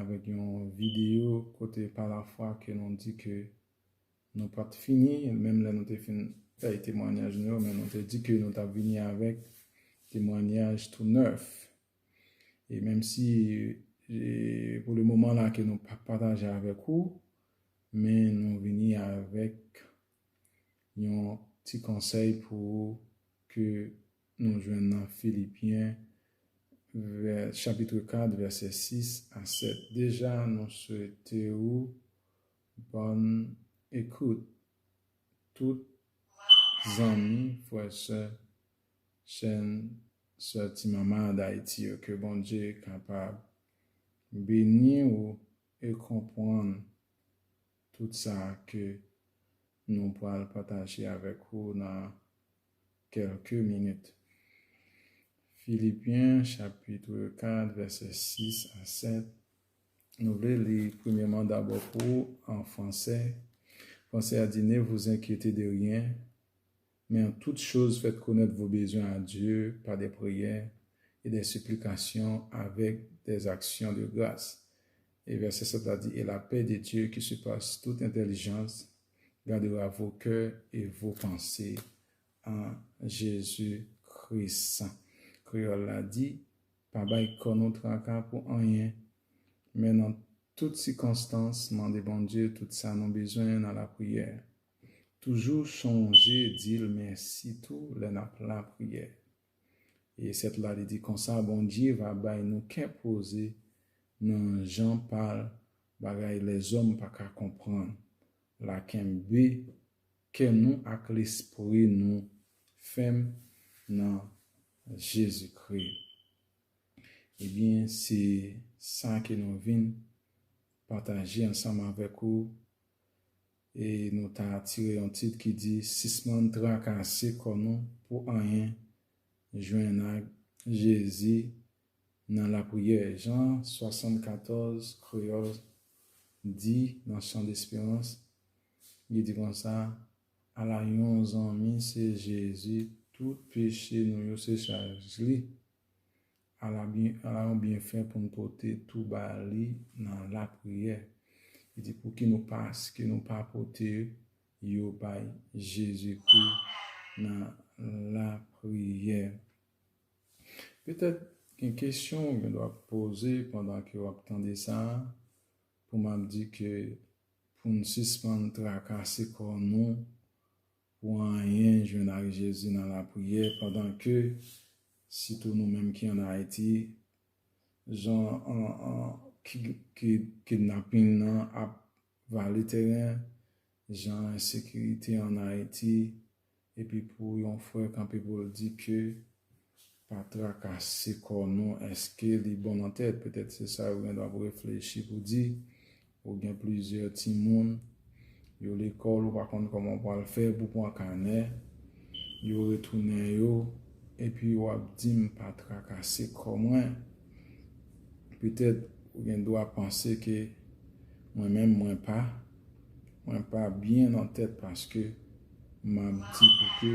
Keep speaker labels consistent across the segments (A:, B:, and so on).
A: avèk yon videyo kote pa lafwa ke nou di ke nou pa t fini, menm lè nou te fin bay temwanyaj nou yo, men nou te di ke nou t ap vini avèk temwanyaj tou nèf. E menm si pou le moman la ke nou pa pataje avèk ou, men nou vini avèk yon ti konsèy pou ou ke Nou jwenn nan Filipyen chapitre 4 vèsè 6 a 7. Deja nou swete ou bòn ekout tout zanmi, frè, sè, chèn, sè ti mama Dayiti yo. Ke Bondye kapab beni ou e konpwann. Tout sa ke nou pral pataje avèk ou nan kèlke minit. Filipyen chapitre 4 vèsè 6 a 7, nou vle li premyèman dabò pou ou an franse. Franse a di, Ne vous inquiétez de rien. Men an tout choz fèt konèt vo bezwen a Dye pa dè priyè e dè siplikasyon avèk dè zaksyon de gras. E vèsè 7 la di, e lapè de Dye ki sipas tout entèlijans gadera vo kè e vo panse an Jezi Kris. Kreyòl la di, Pa bay kò nou traka pou anyen, men nan tout sikonstans mande Bondye tout sa nou bezwen nan lapriyè. Toujou chonje di l mèsi tou lè n ap lapriyè. E sèt la li di konsa, Bondye va bay nou kè poze nan jan pa l, bagay lèzòm pa ka konprann la. Kenbe kè nou ak lespri nou fèm nan Jezikri. Ebyen, se sa ke nou vin pataje ansanm avèk ou. E nou ta tire yon tit ki di sispann trakase kò nou pou anyen, jwenn ak Jezi nan lapriyè, Jan 74, Kreyòl, di nan Chant d'espérance, li di konsa, Ala yon zanmi se Jezi, tout peche nou yo se chaj li, Ala yon byenfè pou n pote tou ba li nan lapriyè! Li di, Pouki nou paske nou pa pote yo bay Jezikri nan lapriyè? Petèt gen kesyon ou gendwa poze pandan ke w ap tande sa a, pou m ap di ke pou n sispann trakase kò nou pou anyen jwenn ak Jezi nan lapriyè pandan ke sitou nou menm ki an Ayiti jan kidnaping nan ap vale teren, jan ensekirite an Ayiti epi pou yon frè kanpe pou l di ke Pa trakase kò nou èske li bon nan tèt, petèt se sa yo gendwa pou reflechi pou di, ou gen plizyè timoun, yo lekòl ou pa konn kòman ou pral fè pou pran kanè, yo retounen yo, epi w ap di m pa trakase kò mwen, petèt ou gendwa panse ke mwen menm mwen pa, mwen pa byen nan tèt paske m ap di pou ke.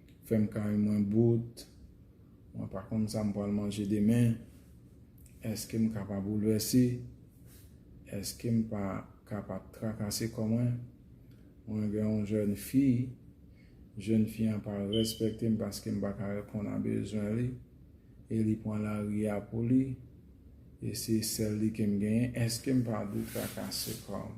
A: Fèm kay mwen bout. Mwen pa konn sa m pral manje demen. Èske m ka pa boulvèse? Èske m pa ka pa trakase kò mwen? Mwen gen yon jèn fi. Jèn fi an pa rèspèkte m paske m pa ka reponn a bezwen li. E li pran lari a pou li. E se sèl li ke m genyen. Èske m pa dwe trakase kò m?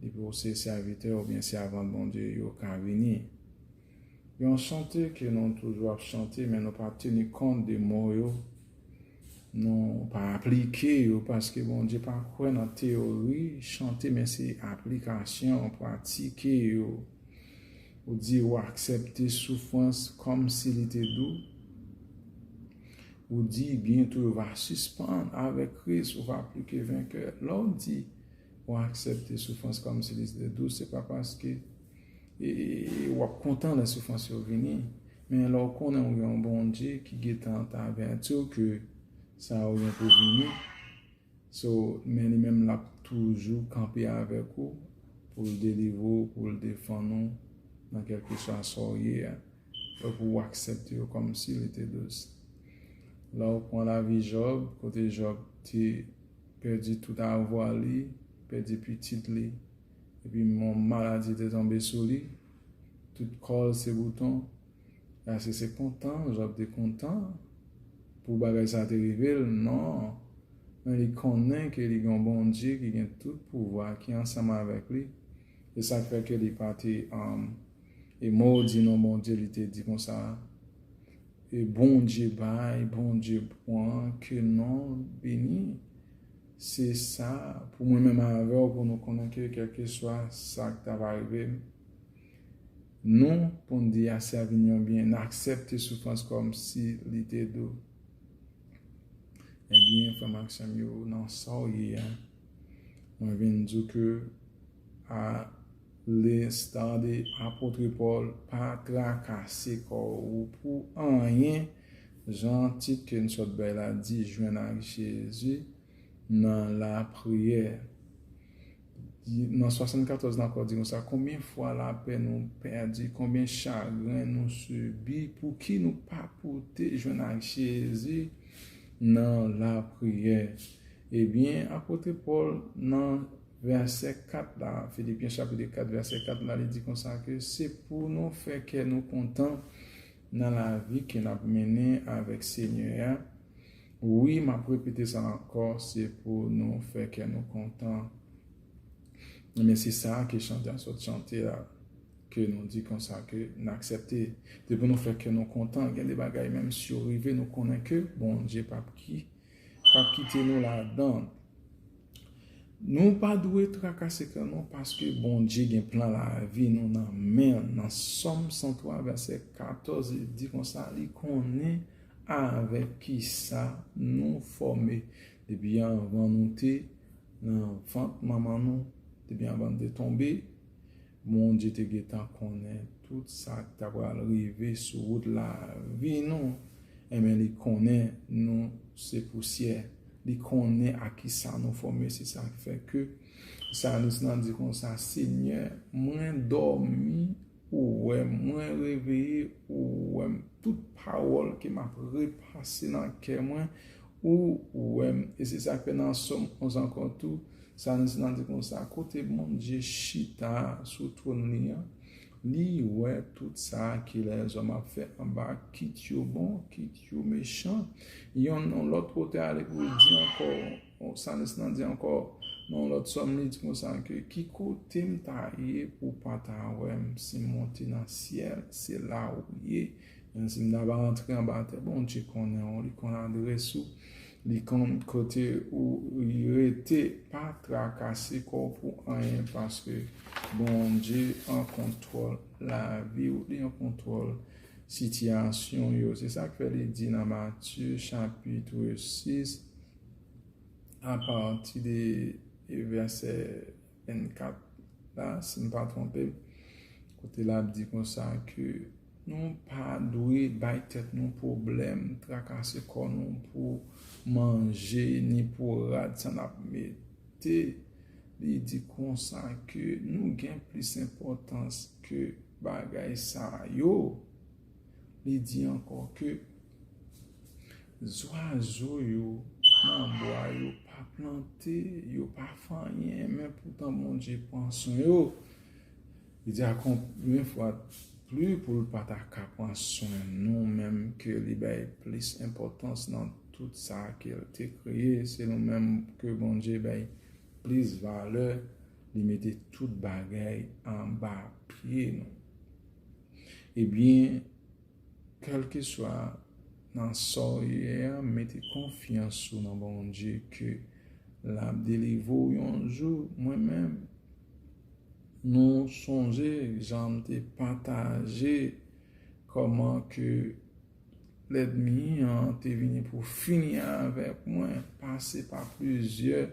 A: Depi ou se sèvitè oubyen sèvant Bondye, yo ka vini. Yon chante ke nou toujou ap chante men nou pa teni kont de mo yo, nou pa aplike yo paske Bondye pa kwè nan teyori chante men se aplikasyon, pratike yo. Ou di ou aksepte soufrans kòm si li te dou. Ou di byento yo va sispann avèk Kris ou va pli ke venkè. Lè ou di. Ou aksepte soufrans kòm si li te dous, se pa paske ou ap kontan lè soufrans yo vini, men lè ou konnen ou gen yon Bondye ki gentan ap avèti w ke sa yo gen pou vini, so, men li menm lap toujou kanpe avèk ou pou l delivre ou, pou l defann ou nan kèlkeswa sa w ye a, fòk ou aksepte yo kòm si li te dous. Lè ou pran lavi Jòb, kote Jòb te. pèdi tout avwa li, pèdi pitit li, epi yon maladi te tonbe sou li, tout kò l se bouton, èske se kontan Jòb te kontan pou bagay sa a te rive l? Non. Men li konnen ke li gen yon Bondye ki gen tout pouvwa ki ansanm avèk li, e sa k fè ke li pa te modi non Bondye, li te di konsa, E Bondye bay Bondye pwan ke non beni se sa pou mwen menm avèw pou nou konnen ke kelkeswa sak ta va rivem nou poun di ase a vin yon byen naksepte soufrans kòm si li te dou ebyen frèm ak sèm yo nan saw ye a mwen vin diw ke a. Lnsta de apotre Paul pa trakase kò ou pou anyen jan tit ke n sot bay la di jwenn ak Jezi nan lapriyè. Nan 74 nan kò di konsa konbyen fwa lapè nou pèdi konbyen chagren nou sibi pou ki nou pa pote jwenn ak Jezi nan lapriyè. Ebyen apotre Paul nan. Vèsè 4 la, Filipyen chapit 4 vèsè 4 la, li di konsa ke se pou nou fè kè nou kontan nan lavi ke n ap mennen avèk Senyè a. Wi, m ap repete sa ankò, se pou nou fè kè nou kontan. Ebyen, se sa a ke chantè an sot chante a, ke nou di konsa ke n aksepte. Se pou nou fè kè nou kontan. Gen de bagay menm si yo rive nou konnen ke Bondye p ap ki. Pap kite nou ladann. Nou pa dwe trakase kè nou paske Bondye gen plan lavi nou nan men l. Nan Sòm 103 vèsè 14 li di konsa li konnen avèk kisa nou fòme depi anvan nou te nan vant manman nou, depi anvan nou te tonbe. Bondye te gentan konnen tout sa k ta pral rive sou wout lavi nou. Enben, li konnen nou se pousyè. Li konnen ak ki sa nou fòme. Se sa k fè ke salis lan di konsa, Senyè, mwen dòmi, ou wè m, mwen reveye, ou wè m. Tout pawòl ke m ap repase nan kè mwen, ou wè m. E se sa k fè nan Sòm 11 ankò tou, Salmis lan di konsa, Kote Bondye chita sou twòn li an, li wè tout sa ke lèzòm ap fè anba, kit yo bon, kit yo mechan. Yon lòt otè ale pou l di ankò, Salmis lan di ankò, nan yon lòt sòm, li di konsa ke, Ki kote m ta ye pou w pa ta wè m? Si m monte nan syèl, se la ou ye. Menmsi m ta ba antre anba tè, Bondye konnen ou, li konn adrès ou. Li konn kote ou rete pa trakase kòw pou anyen paske Bondye an kontwòl laviw li an kontwòl sitiyasyon yo se sak fè li di nan Matye chapitre 6 a pati de vèsè 24 la si m pa twonpe m, kote l ap di konsa ke nou pa dwe bay tèt nou pwoblèm, trakase kò nou pou manje ni pou rad sa n ap mete. Li di konsa ke nou gen plis enpòtans ke bagay sa yo. Li di ankò ke Zwazo yo nan bwa yo pa plante, yo pa fè anyen, men poutan Bondye pran swen yo. Li di a konbyen fwa depli pou l pa ta ka pran swen nou menm ke li bay plis enpòtans nan tout sa ke l te kreye, se nou menm ke Bondye bay plis valè, li mete tout bagay anba pye nou. Ebyen. Kèlkeswa nan sa w ye a mete konfyans ou nan Bondye ke lap delivre w yon jou mwen menm nou sonje jan m te pataje kòman ke lèdmi an te vini pou fini avèk mwen pase pa plizyè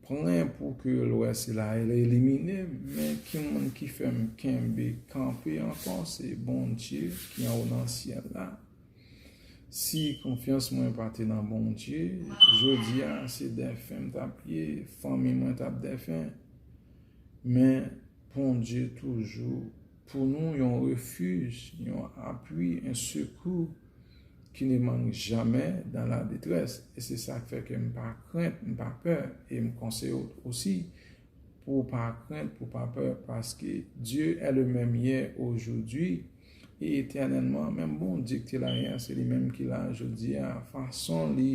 A: Plen pou ke lwè sila el elimine men ki moun ki fèm kenbe kanpe ankò se Bondye ki anwo nan syèl la si konfyans mwen pa te nan Bondye jodia se dèfen m tap ye fanmi mwen tap dèfen men Bondye toujou Pou nou yon refij, yon apwi, yon sekou ki ne mang jamè dan la detrès. E se sa k fè ke m pa krent, m pa pè. E m konseye w osi pou w pa krent, pou w pa pè, paske Dye è le mèm yè, ojoudwi, e etènèlman. Menm Bondye ki te la yè a, se li menm ki la jodi a. Fason li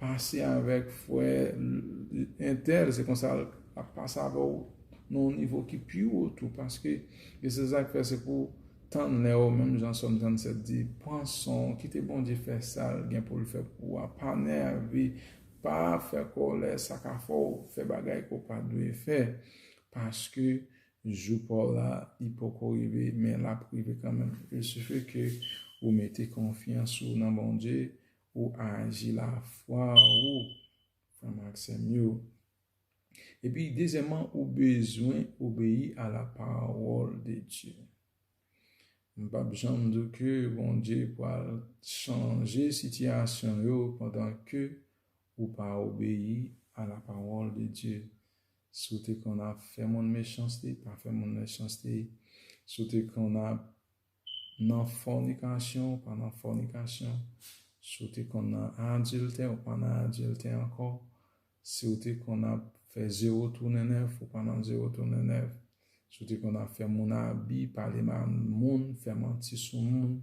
A: pase avèk frè entèl, se konsa l ap pase avè w. nan yon nivo ki pi wo tou paske e se sa k fè se pou tann lè w menm jan sòm 37 di pran san w kite Bondye fè sa l gen pou l fè pou ou a pa nève pa fè kòlè sa ka fè w fè bagay ke w pa dwe fè paske jou pa w la li poko rive men l ap rive kanmèm il sifi ke ou mete konfyans ou nan Bondye ou aji lafwa ou frè m ak sè m yo. Epi dezyèman ou bezwen obeyi a la pawòl de Dye. M pap janm di w ke Bondye pral chanje sitiyasyon yo pandan ke ou pa obeyi a la pawòl de Dye. Si w te konn ap fè moun mechanste, pa fè moun mechanste. Si w te konn ap nan fònikasyon ou pa nan fònikasyon, si w te konn nan adiltè ou pa nan adiltè ankò, si w te konn ap fè zewo tounen nèf ou pa nan zewo tounen nèf, si w te konn ap fè moun abi, pale mal moun, fè manti sou moun,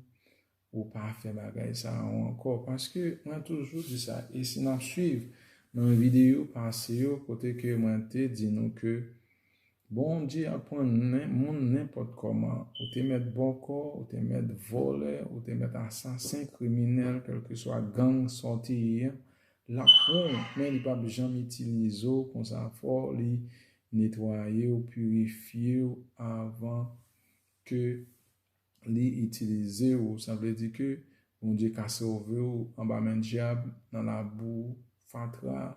A: ou pa fè bagay sa yo ankò. Paske mwen toujou di sa e si n ap suiv nan videyo pase yo kote ke mwen te di nou ke Bondye ap pran nen moun nenpòt kòman. Ou te mèt bòkò, ou te mèt vòlè, ou te mèt asasen, kriminèl, kèlkeswa gang sa w te ye a, l ap pran w, men li pap janm itilize w konsa fò li netwaye w, pirifye w avan ke li itilize w. Sa vle di ke Bondye ka sove w anba men dyab, nan labou, fatra,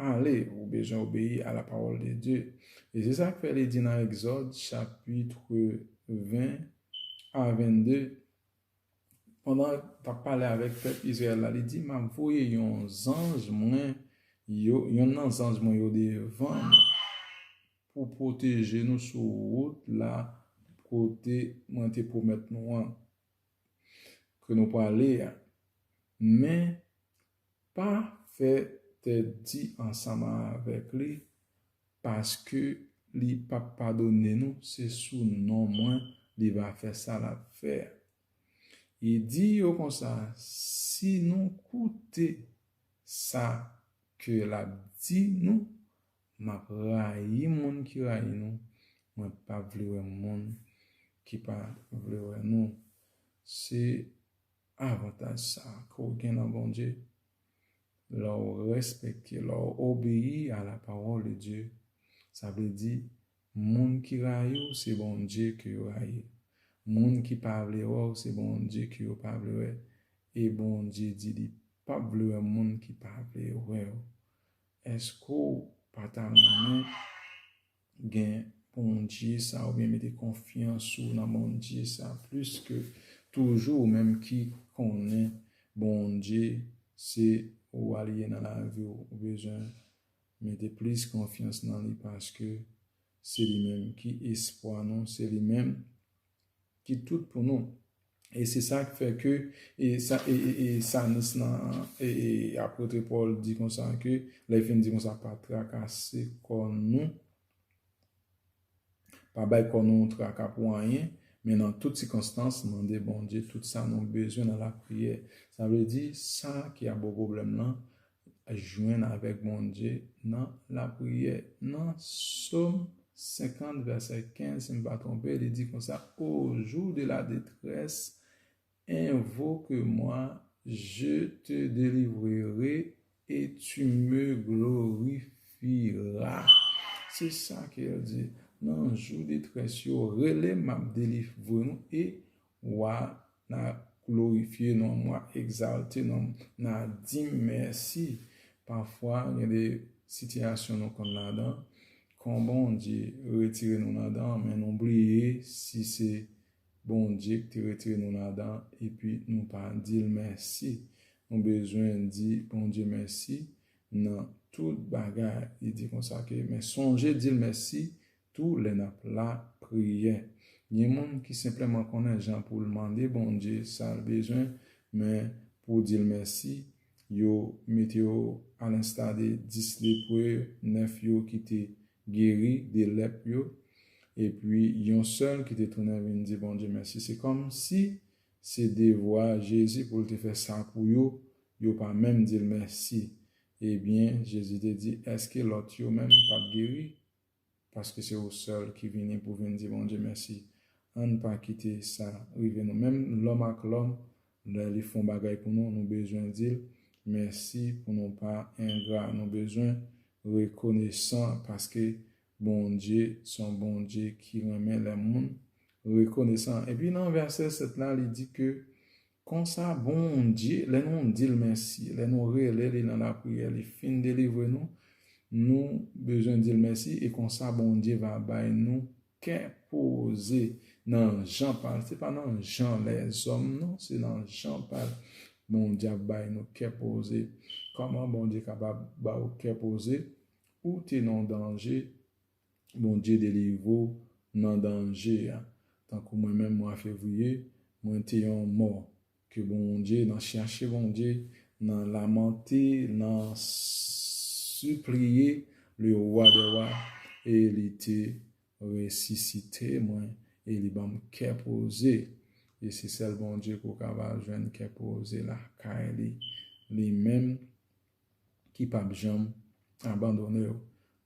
A: Ale, ou bezwen obeyi a lapawòl de Dye. E se sa k fè li di nan Egzòd chapitre 20 a 22, pandan l t ap pale avèk pèp Izrayèl la, li di, M ap voye yon zanj mwen yo, yonn nan zanj mwen yo devan nou pou pwoteje nou sou wout la kote mwen te pwomèt nou an ke nou prale a. Men, Pa fè tèt di ansanm avèk li paske li pap padone nou se sou non mwen li va fè sa lap fè a. E di yo konsa si nou koute sa ke lap di nou map rayi moun ki rayi nou mwen pap vle wè moun ki pa vle wè nou se Avantaj sa a ke w gen nan Bondye, lè w respekte, lè w obeyi a la parole de Dieu, sa vle di, moun ki rayi w se Bondye ke yo rayi, moun ki pa vle wè w se Bondye ke yo pa vle wè, e Bondye di li pa p vle wè moun ki pa vle wè yo. Èske w pa ta renmen? gen Bondye sa oubyen mete konfyans ou nan Bondye sa plis ke toujou ou menm ki konnen Bondye se wa li ye nan lavi w ou bezwen mete plis konfyans nan li paske se li menm ki espwa nou se li menm ki tout pou nou e se sa k fè ke e sa e e sanis lan e e apotre pòl di konsa ke lè l fin di konsa pa trakase kò nou pa bay kò nou traka pou anyen men nan tout sikonstans mande bondye tout sa nou bezwen nan lapriyè sa vle di sa ki ap bo pwoblèm lan Jwenn avèk Bondye nan lapriyè. Nan Som 50 vèsè 15, si m pa twonpe, li di konsa, O jou de la detrès, envoke mwa, je te delivrere e tu me glorifira. Se sa ke l di, nan jou detrès yo, rele m, m ap delivre nou e Wa, n'a glorifye non m', w'a egzalte non m', n'a di m' mèsi. Pafwa gen de sitiyasyon nou konn ladan, kon Bondye retire nou ladan, men nou bliye si se Bondye ki te retire nou ladan epi nou pa di l' mèsi. Nou bezwen di Bondye mèsi nan tout bagay. Li di konsa ke, men sonje di l' mèsi Tou lè nap la priyè. Gen moun ki senpleman konnen jan poul mande Bondye sal bezwen men pou dil mèsi yo mete yo a lensta de 10 lepre 9 yo ki te geri de lèp yo epi yon sèl ki te tounen vin di Bondye mèsi se kòm si se devwa Jezi poul te fè sa pou yo yo pa menm dil mèsi ebyen Jezi te di èske lòt yo menm pat geri? paske se ou sèl ki vini pou vin di Bondye mèsi ann pa kite sa rive nou menm lòm ak lòm lè li fon bagay pou nou nou bezwen dil mèsi pou nou pa engra nou bezwen rekonesan paske Bondye son Bondye ki renmen lè moun rekonesan epi nan vèsè 7 la li di ke Konsa Bondye, lè nou di l mèsi, lè nou rele li nan lapriyè, li fin delivre nou, nou bezwen di l mèsi e konsa Bondye va bay nou kè poze nan jan pa l. Se pa nan jan lèzòm non, se nan jan pa l. Bondye ap bay nou kè poze. Kòman Bondye kapab ba ou kè poze? Ou te nan danje, Bondye delivre w nan danje a tankou mwen menm mwa fevriye mwen te yon mò ke Bondye nan chache Bondye nan lamante nan sipliye le roi des rois e li te resisite mwen e li banm kè poze e se sèl Bondye ke w ka va jwenn kè poze lakay li li menm ki pap janm abandone w,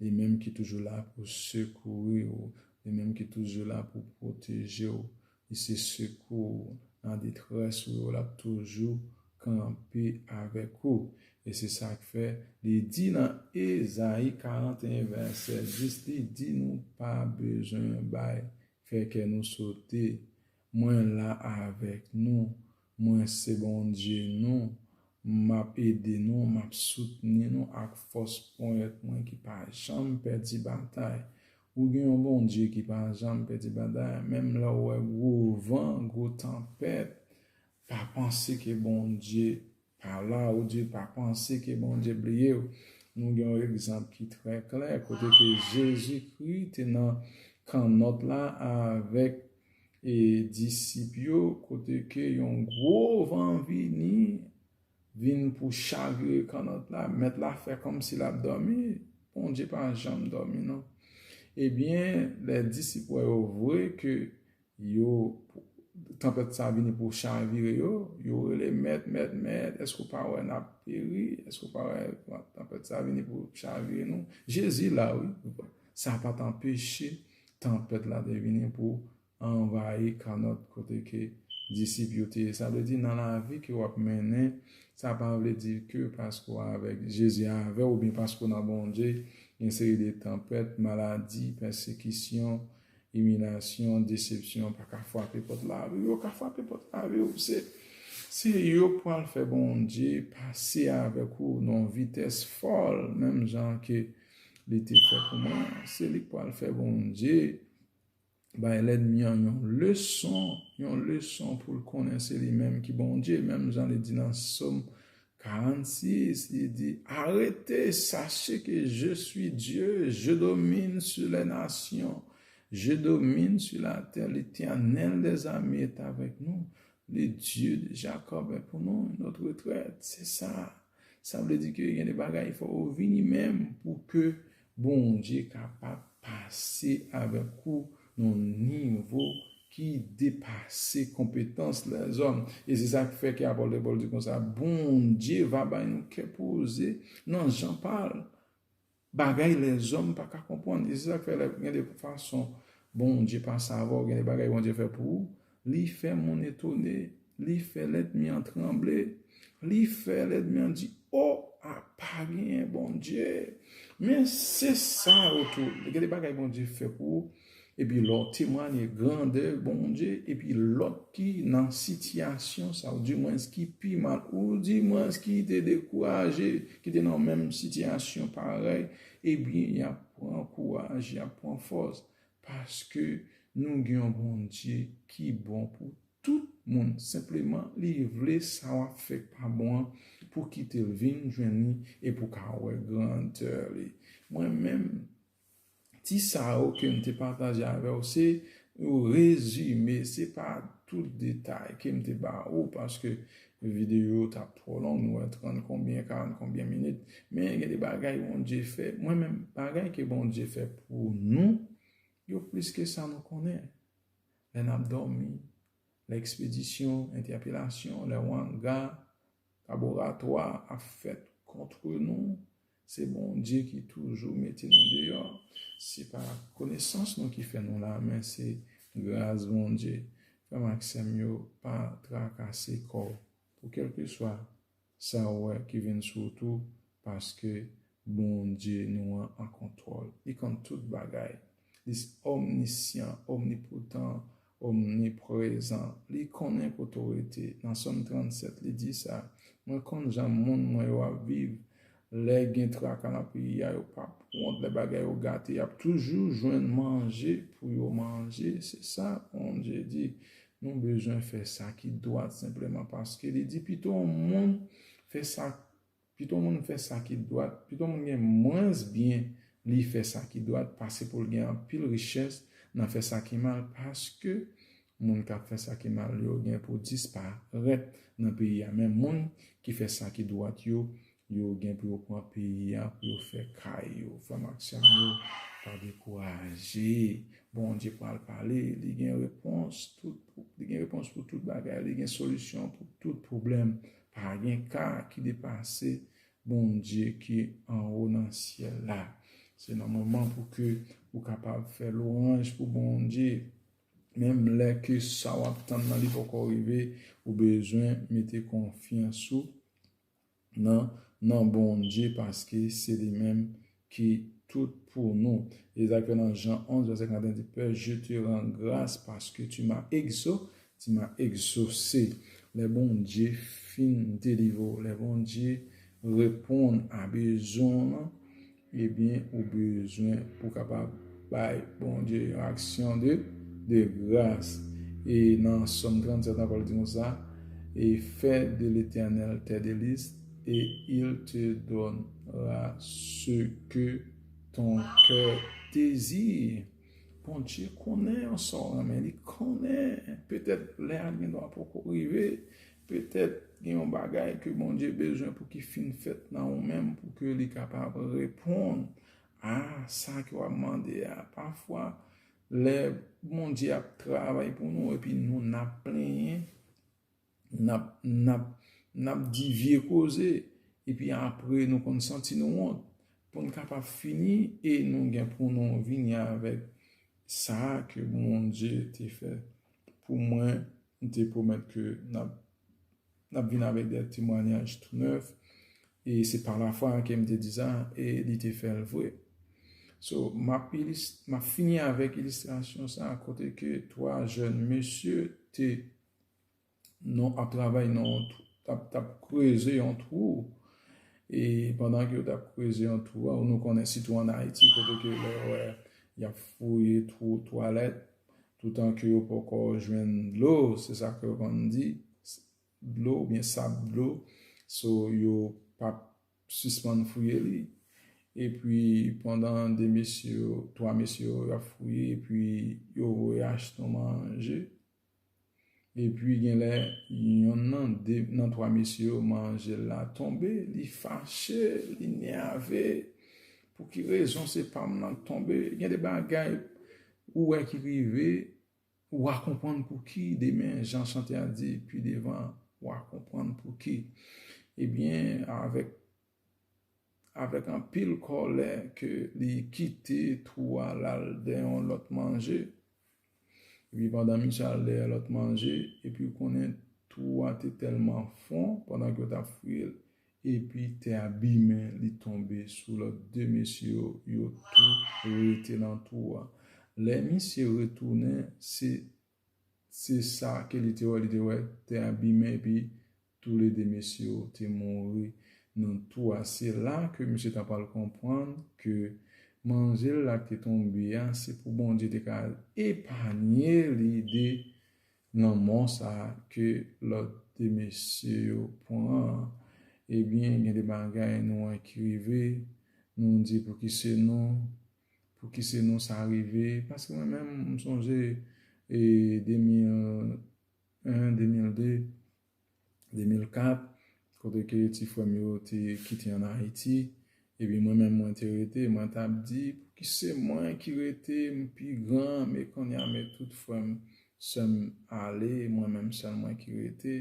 A: li menm ki toujou la pou sekouri w, li menm ki toujou la pou pwoteje w, li se sekou w nan detrès ou yo, l ap toujou kanpe avèk ou. E se sa k fè, li di nan Ezayi 41 vèsè 10, li di nou pa bezwen bay, fè kè nou sote. Mwen la avèk nou, mwen se Bondye nou, m ap ede nou, m ap soutni nou ak fòs ponyèt mwen ki pa janm pèdi batay. Ou gen yon Bondye ki pa janm pèdi batay, menm lè w wè gwo van, gwo tanpèt, pa panse ke Bondye Pala ou di pa panse ke Bondye bliyew. Nou gen yon egzanp ki trè klè kote ke Jezi Kri te nan kannòt la avèk e disip yo kote ke yon gwo van vini vin pou chavire kannòt la. Mèt la fè kòmsi lap dòmi. Bondye pa janm dòmi non. Ebyen lè disip wè yo vwe ke Yo, tanpèt sa vini pou chavire yo, yo rele, Mèt, Mèt, Mèt, èske w pa wè n ap peri? Èske w pa wè tanpèt sa vini pou chavire nou? Jezi la wi! Sa pa t anpeche tanpèt la te vini pou anvayi kannòt kote ke disip yo te ye. Sa vle di, nan lavi ke w ap mennen, sa pa vle di ke paske w avèk Jezi avè w oubyen paske w nan Bondye, gen seri de tanpèt, maladi, pèsekisyon, Iminasyon, desepsyon pa ka fwape pòt lavi w. Yo ka fwape pòt lavi w. Se yo k pral fè Bondye pase avèk ou nan yon vitès fòl menm jan ke li te fè pou mwen an. Se li k pral fè Bondye bay lènmi an yon leson, yon leson pou l konnen se li menm ki Bondye menm jan li di nan Som 46, li di, Arete, sache ke je sui Dye, je domin su lè nasyon, je domin su la tè, Letènèl dè zame et avèk nou, le Dye de Jakòb è pou nou, nòt retrèt, se sa. Sa vle di ke gen de bagay fò ou vini menm pou ke Bondye kapab pase avèk ou nan yon nivo ki depase konpetans lèzòm. E se sa k fè ke apòtè Pòl di konsa, Bondye va bay nou kè poze nan jan pa l, bagay lèzòm pa ka konprann. E se sa k fè lè gen de fason Bondye pase avè w, gen de bagay Bondye fè pou ou, Li fè moun etone, li fè lèdmi an tranble, li fè lèdmi an di, O! A pa genyen Bondye! Men, se sa yo tou. Gen de bagay Bondye fè pou ou, epi lè w temwanye grandè Bondye, epi lòt ki nan sitiyasyon sa, oudimwens ki pi mal, oudimwens ki te dekouraje, ki te nan menm sitiyasyon parèy, ebyen y ap pran kouraj, y ap pran fòs. Paske nou gen yon Bondye ki bon pou tout moun, senpleman li vle sa wap fè k pa bon an pou kitel vin jwenn li e pou ka wè grandè li. Mwen menm ti sa yo kem te pataje avèw se yon rezime se pa tout detay kem te ba ou paske Video yo tap twò long nou wè 30 konbyen 40 konbyen minit men gen de bagay Bondye fè mwen menm bagay ke Bondye fè pou nou yo plis ke sa nou konnen lè nap dòmi lè ekspedisyon entèpelasyon lè wanga laboratwa ap fèt kontre nou Se Bondye ki toujou mete nou deyò. Se pa konesans nou ki fè nou la, men se gras Bondye. Frè m ak sè m yo, pa trakase kò w pou kèlkeswa sa ou wè ki vin sou w tou, paske Bondye nou an an kontwòl. Li konn tout bagay. Li se omnisyan, omnipotan, Omniprezan. Li konnen kote w rete. Nan Sòm 37, li di sa, Mwen konn jan moun mwen yo ap viv. Lè gen traka nan peyi a, yo pap wont. Lè bagay yo gate, y ap toujou jwenn manje pou yo manje. Se sa Bondye di. Nou bezwen fè sa ki dwat senpleman paske li di pito moun fè sa Pito moun fè sa ki dwat, pito moun gen mwens byen li fè sa ki dwat pase pou l gen anpil richès nan fè sa ki mal paske moun k ap fè sa ki mal yo gen pou disparèt nan peyi a men moun ki fè sa ki dwat yo, yo gen pou yo pran peyi a pou yo fè kay yo. Frè m ak sè m yo, pa dekouraje. Bondye pral pale, li gen repons pou tout bagay, li gen solisyon pou tout pwoblèm. Pa gen ka ki depase Bondye ki anwo nan syèl la. Se nan moman pou ke ou kapab fè lwanj pou Bondye. Menm lè ke sa w ap tann nan li poko rive, ou bezwen mete konfyans ou nan Bondye paske se li menm ki tout pou nou. Ezak yo nan Jan 11, vèsè 41 di, Pè, je te ran gras paske tu ma egzo, ti ma egzose. Lè Bondye fin delivre w, lè Bondye reponn a bezwen w lan, ebyen ou bezwen pou kapab bay Bondye yon aksyon de de gras. E nan Sòm 37 ankò li di konsa, E fè de Letènèl tè delis. Et il te donnera ce que ton coeur désire. Bondye konnen an sa w renmen. Li konnen. Petèt lè a gendwa poko rive. Petèt gen yon bagay ke Bondye bezwen pou ki fin fèt nan ou menm pou ke li kapab reponn a sa ke w ap mande a. Pafwa lè Bondye ap travay pou nou epi nou nan plenyen. Nap, nap, nap di vye koze, epi apre nou konn santi nou wont. Pou n kapab fini, e nou gen pou nou vini avèk sa ke Bondye te fè pou mwen, li te pwomèt ke nap, nap vini avèk de temwanyaj tou nèf, e se pa lafwa ke m te di sa, e li te fè l vre. So, map ilis, map fini avèk ilistrasyon sa kote ke twa jèn mesye te. nou ap travay nan yon twou, tap tap kreze yon twou, e pandan ke yo tap kreze yon twou a, nou konnen sitou an Ayiti kote ke lè ou wè yap fouye twou twalèt, toutan ke yo poko jwenn dlo, se sa ke yo konn di, dlo ou byen sab dlo, so yo pap sispann fouye li, e pi pandan 2 mesye yo, 3 mesye yo ap fouye, e pi yo voye achte manje, Epi genlè yonn nan 2 nan 3 mesye yo manjel la tonbe li fache li nèave pou ki rezon se pam nan k tonbe gen de bagay ou wè ki rive wa konprann pou ki demen jan chante a di pi devan wa konprann pou ki ebyen avèk Avèk anpil kòlè ke li kite twou a lal dè yon lòt manje. Epi pandan misye al dè yon lòt manje, epi ou konnen twou a te tèlman fon pandan ke yo tap fouye l, epi tè a bimen li tonbe sou lòt 2 mesye yo, yo tou rete nan twou a. Lè misye retounen, se Se sa ke li te wè, li te wè tè a bimen epi tou le 2 mesye yo te mouri nan tou a. Se la ke mesye ta pral konprann ke manje l la ki te tonbe a, se pou Bondye te ka epanye li de lanmò sa ke lòt 2 mesye yo pran an. Ebyen, gen de bagay nou wè ki rive, nou di pou ki se nou, Pouki se nou sa rive? Paske mwen menm m sonje e 2001, 2002, 2004 kote ke ti frè m yo te kite an Ayiti epi mwen menm mwen te rete mwen ta p di pouki se mwen ki rete m pi gran men konnya men tout frè m sè m ale mwen menm sèl mwen ki rete.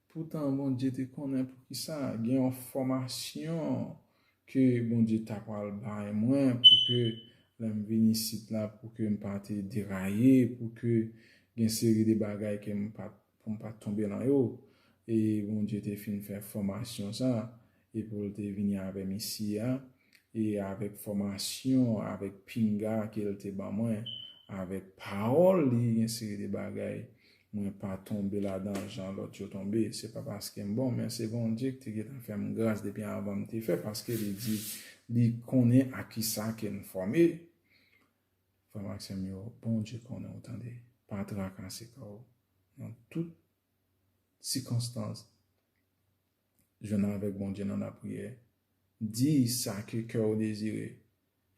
A: Poutan Bondye te konnen poukisa gen yon fòmasyon ke Bondye ta pral bay mwen pou ke lè m vin isit la pou ke m pa te deraye, pou ke gen seri de bagay ke m pa, pou m pa tonbe lan yo. E Bondye te fin fè fòmasyon sa, e pou l te vini avè m isi a, e avèk fòmasyon, avèk pinga ke l te ban mwen, avèk pawòl li, yon seri de bagay, mwen pa tonbe ladan l jan lòt yo tonbe. Se pa paske m bon, men se Bondye ki te gentan fè m gras depi anvan m te fè, paske li di li konnen ak kisa ke n fòme. Frè m ak sè m yo, Bondye konnen w tande. Pa trakase kò w nan tout sikonstans. Jwenn avèk Bondye nan lapriyè. Di sa ke kè ou dezire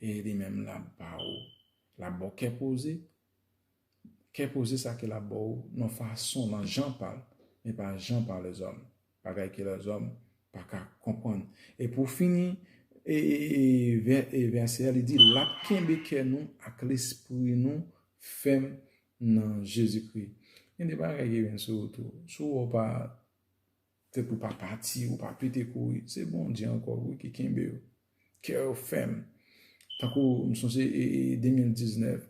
A: e li menm l ap ba ou. L ap ba w kè poze. Kè poze sa ke l ap ba ou nan fason, nan jan pa l, e pa jan pa lèzòm. Bagay ke lèzòm pa ka konprann. E pou fini, vèsè a li di, l ap kenbe kè nou ak lespri nou fèm nan Jezikri. Gen de bagay ki vin sou ou tou. Si w wè w pa. Tèt ou pa pati, ou pa pete kouri. Se Bondye ankò wi ki kenbe yo. Kè yo fèm. Tankou m sonje 2019,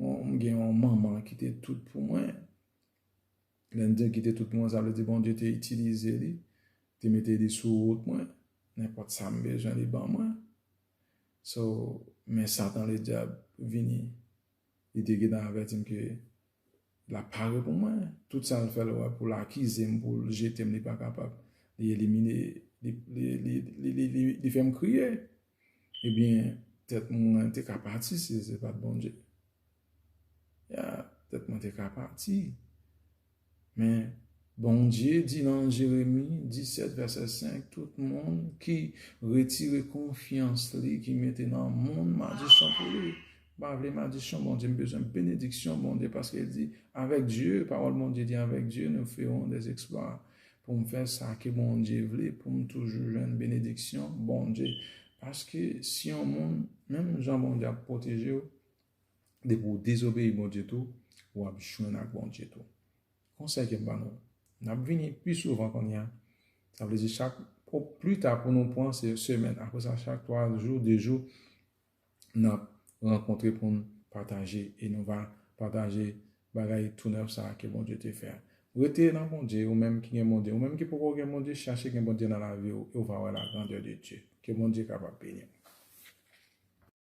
A: m gen yon manman ki te tout pou mwen. Lè m di l ki te tout pou mwen, sa vle di Bondye te itilize li, te mete li sou wout mwen. Nenpòt sa m bezwen li ban mwen. So, men satan ledyab vini. Li te gentan avèti m ke Lap pare pou mwen, tout sal fè lwa poul akizem poul jetem li pa kapab li elimine li fèm kriye ebyen tèt mwen te ka pati si se pat Bondye ya tèt mwen te ka pati Men, Bondye di nan Jeremi 17, vèsè 5, Tout moun ki retire konfyans li, ki mete nan moun madisyon pou li. M pa vle madisyon Bondye, m bezwen benediksyon Bondye, paske l di, Avèk Dye, pawòl Bondye di, Avèk Dye nou fewon dè zeksplwa. Pou m fè sa ke Bondye vle, pou m toujou jwenn benediksyon Bondye. Paske, si yon moun, menm jan Bondye ap pwoteje w, depi ou dezobeyi Bondye tou, w ap jwenn ak Bondye tou. Konsèy ke m ban nou, n ap vini pi souvan kounye a, sa vle di chak, o pli ta pou nou pran se semèn, apre sa chak 3 jou, 2 jou, n ap rankontre pou n pataje e nou va pataje bagay tou nèf sa a ke Bondye te fè a. Rete nan Bondye, ou menm ki gen Bondye, ou menm ki poko gen Bondye, chache gen Bondye nan lavi w e w va wè la grandeur de Dieu. Ke Bondye kapab beni w.